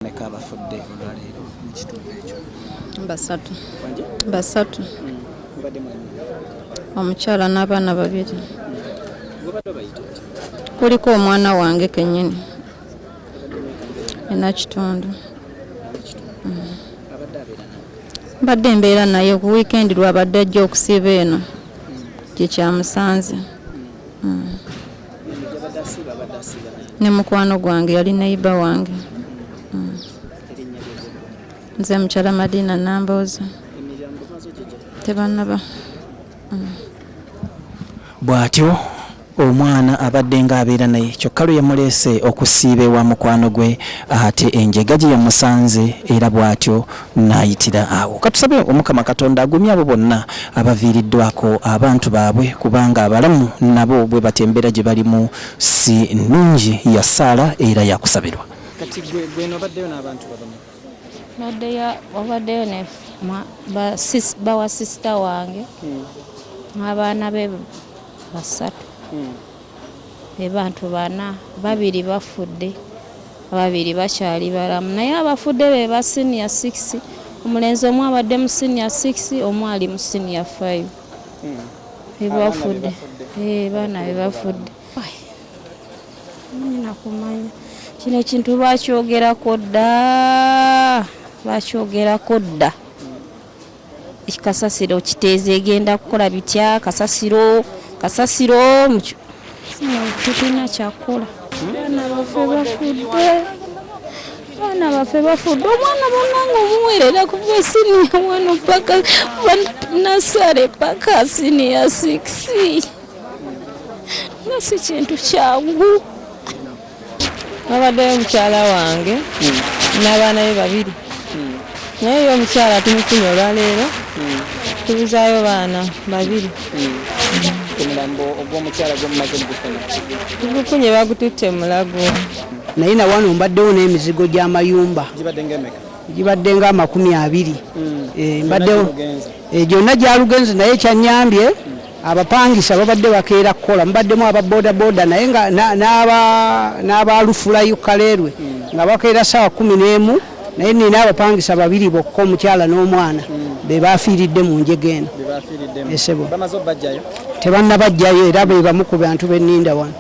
bameka abafudde olwaleero mu kitundu ekyo? Basatu. Basatu. Hmm. Omukyala n'abaana babiri. Kuliko omwana wange kennyini ena kitundu. Hmm. Mbadde mbeera naye ku wiikendi lwabadde ajja okusiiba eno hmm. gye kyamusanze. ne mukwano gwange yali neyiba wange mm. nze mukyala madina nambooza tebanaba mm. bw'atyo omwana abadde ng'abeera naye kyokka lwe yamuleese okusiiba ewa mukwano gwe ate enjega gye yamusanze era bw'atyo n'ayitira awo. Katusabe Omukama Katonda agumye abo bonna abaviiriddwako abantu baabwe kubanga abalamu nabo bwe batyo embeera gye balimu si nnungi ya ssaala era ya kusabirwa. Kati gwe gwe nobaddeyo n'abantu babameka? Nabaddeyo obaddeyo ne bawa sisita wange hmm. n'abaana be basatu hmm. be bantu bana babiri bafudde. Ababiri bakyali balamu naye abafudde be ba siniya 6. Omulenzi omu abadde mu siniya 6, omu ali mu siniya 5. Bebafudde. Eh, baana be bafudde. Nyina kumanya. Kino ekintu bakyogerako dda. Bakyogerako dda. kasasiro kiteeza egenda kukola bitya kasasiro kasasiro tulina kyakukola abaana baffe bafudde abaana baffe bafudde omwana banange omuwerera kuva siniya wano paka nasale paka siniya sikisi nga si kintu kyangu Wabaddeyo mukyala wange n'abaana be babiri naye ye omukyala tumufunye olwaleero tubuzaayo baana babiri omulambo ogw'omukyala gwemumaze mugufuna tugufunye bagututte mu mulago naye na wano mbaddewo n'emizigo gy'amayumba gibadde ng'emeka gibadde nga amakumi abiri Eh, mbaddewo Gyonna gye mugenze. eh, gyonna gyalugenze naye kyanyambye Abapangisa babadde bakeera kukola mubaddemu aba bodaboda naye nga n'aba lufulayo kaleerwe nga bakeera saawa kumi n'emu naye nina abapangisa babiri bokka omukyala n'omwana hmm. be bafiiridde mu njega eno esebo tebannabajjayo era be bamu ku bantu beninda wano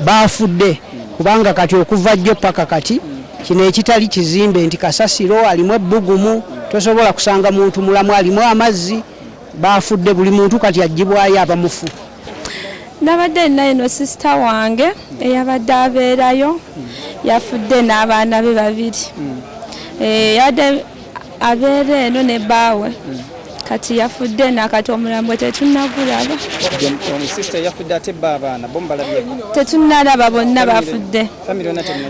baafudde hmm. kubanga kati okuva jjo paka kati hmm. kino ekitali kizimbe nti kasasiro alimu ebbugumu tosobola kusanga muntu mulamu alimu amazzi baafudde buli muntu kati agibwayo abamufu nabadde nina eno sisita wange eyabadde abeerayo yafudde n'abaana be babiri hmm. eh, yabadde abeera eno ne baawe hmm. kati yafudde nakati omulambo tetunagulaba tetunalaba bonna bafudde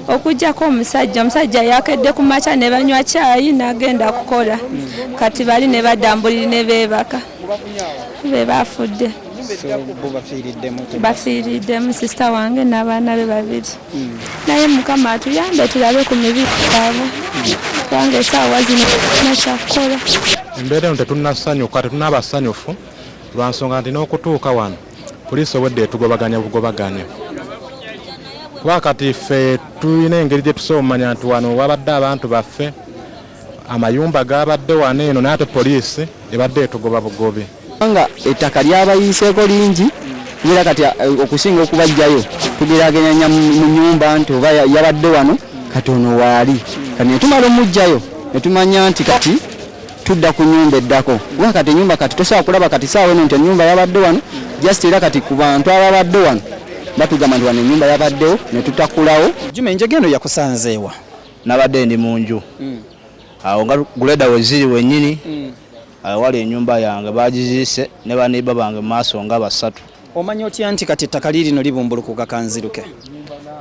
okujjako omusajja omusajja yakedde ku makya ne banywa kyayi n'agenda kukola hmm. kati bali ne badambuliri ne beebaka be baafudde bafiiriddemu sisita wange n'abaana be babiri hmm. naye mukama atuyambe tulabe ku mibi gyabwe hmm. kubanga esaawa zino nakyakukola embeera eno tetunnasanyuka tetunaabasanyufu lwa nsonga nti n'okutuuka wano Poliisi obwedda etugobaganya bugobaganya kuba kati ffe tulina engeri gye tusobola omumanya nti wano wabadde abantu baffe amayumba gabadde wano eno naye ate poliisi ebadde etugoba bugobi kubanga ettaka lyabayiiseeko lingi era kati eh, okusinga okubajjayo tugerageranya mu nyumba nti oba yabadde wano kati ono waali kati netumala omujjayo netumanya nti kati tudda ku nyumba eddako kuba kati enyumba kati tosobola kulaba kati saawa eno nti enyumba yabadde wano just era kati ku bantu ababadde wano batugamba nti wano enyumba yabaddewo ne tutakulawo juma enjega eno yakusanzeewa nabadde ndi mu nju hmm. awo nga guleda weziri wenyini hmm. awali enyumba yange bagiziise ne baneiba bange mu maaso nga basatu Omanya otya nti kati ettaka liirino libumbulukuka kanziruke?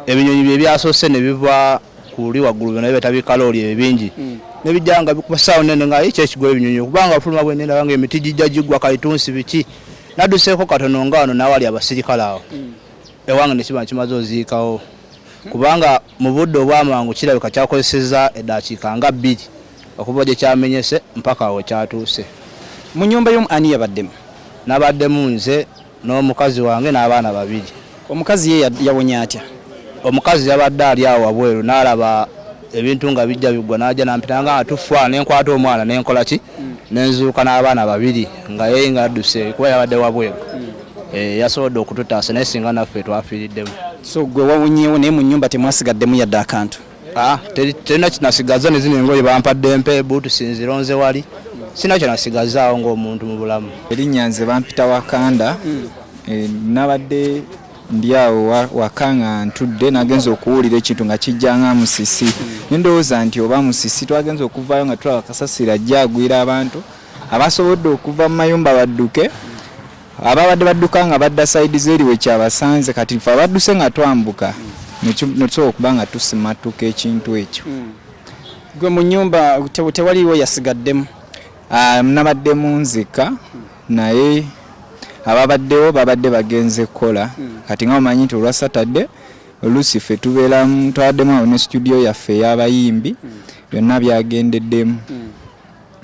Ebinyonyi bye byasoose ne biva ku luli waggulu byona bibeeta bikalooli ebyo bingi hmm. ne bijja nga bikuba ssaawo nene nga ekyo ekigwa ebinyonyi kubanga afuluma bwe nenda banga emiti gijja gigwa kalitunsi biki nadduseeko katono nga wano n'awali abasirikale awo hmm. ewange ne kiba nkimaze oziikawo kubanga Mu budde obw'amangu kirabika kyakozesezza eddakiika nga bbiri okuva gye kyamenyese mpaka awo we kyatuuse. Mu nnyumba y'omu ani yabaddemu? Nabaddemu nze n'omukazi wange n'abaana babiri. Omukazi ye yawonye atya? Omukazi yabadde ali awo wabweru n'alaba ebintu nga bijja biggwa n'ajja n'ampita nga tufa ne nkwata omwana ne nkola ki nenzuuka n'abaana babiri nga yeye nga adduse kuba yabadde wabweru eh, yasobodde okututaasa naye singa naffe twafiiriddemu so gwe wawunyewo naye mu nyumba temwasigaddemu yadde akantu ah, terina kinasigaza nezino engoye bampadde mpe buutusi nzironze wali sina kyenasigazaawo ngaomuntu mu bulamu erinnya nze bampita wakanda hmm. eh, nabadde Ndi awo waka nga ntudde nagenze okuwulira ekintu nga kijja nga musisi ne ndowooza nti oba musisi. Twagenze okuvaayo nga tulaba kasasiro ajja agwira abantu abasobodde okuva mu mayumba badduke ababadde badduka nga badda sayidi z'eri we kyabasanze kati ffe abadduse nga twambuka ne tusobola okuba nga tusimattuka ekintu ekyo. Ggwe mu nnyumba tewaliiwo yasigaddemu? Nabadde mu nzika. naye ababaddewo babadde bagenze kukola kati nga omanyi nti olwa saturday oluusi ffe tubeeramu twaddemu awo ne situdiyo yaffe ey'abayimbi byonna byagendeddemu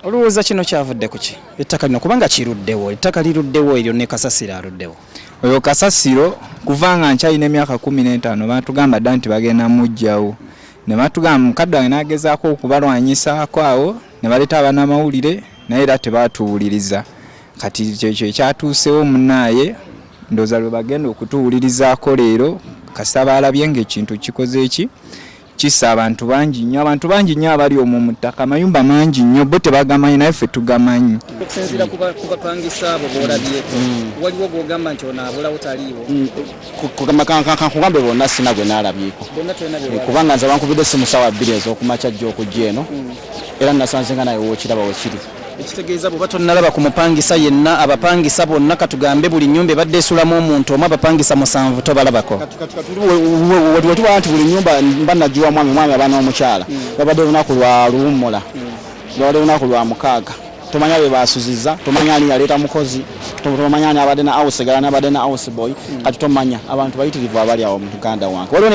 olowooza kino kyavudde ku ki ettaka lino kubanga kiruddewo ettaka liruddewo eryo ne kasasiro aluddewo oyo kasasiro kuva nga nkyalina emyaka kumi n'etaano batugamba dda nti bagenda mujjawo ne batugamba mukadde wange n'agezaako okubalwanyisaako awo ne baleeta abanamawulire naye era tebaatuwuliriza kati kyekyo ekyatuusewo munaaye ndoza lwe bagenda okutuwulirizaako leero kasita baalabye ngaekintu kikoze eki kisa abantu bangi nnyo abantu bangi nnyo abali omwo mu ttaka amayumba mangi nnyo bo tebagamanyi naye ffe tugamanyi okusinziira ku bapangisa abo boolabyeko mm. waliwo gwogamba nti ono abulawo taliiwo mm. kankugambe bonna sina gwe nalabyeko eh, kubanga nze bankubidde simu sawa bbiri ezokumakya jja okujja eno hmm. era nasanze nga naye wokiraba wekiri ekitegeeza bwoba tonalaba ku mupangisa yenna abapangisa bonna katugambe buli nyumba ebadde esulamu omuntu omu abapangisa musanvu tobalabako wetubala nti buli nyumba mba nagiwa mwami mwami abaana omukyala hmm. babadde olunaku lwa luwummula hmm. babadde olunaku lwa mukaaga tomanya be basuziza tomanya ani yaleeta mukozi tomanya ani abadde na house girl ani abadde na house boy kati tomanya abantu bayitirivu abali awo mu uganda wange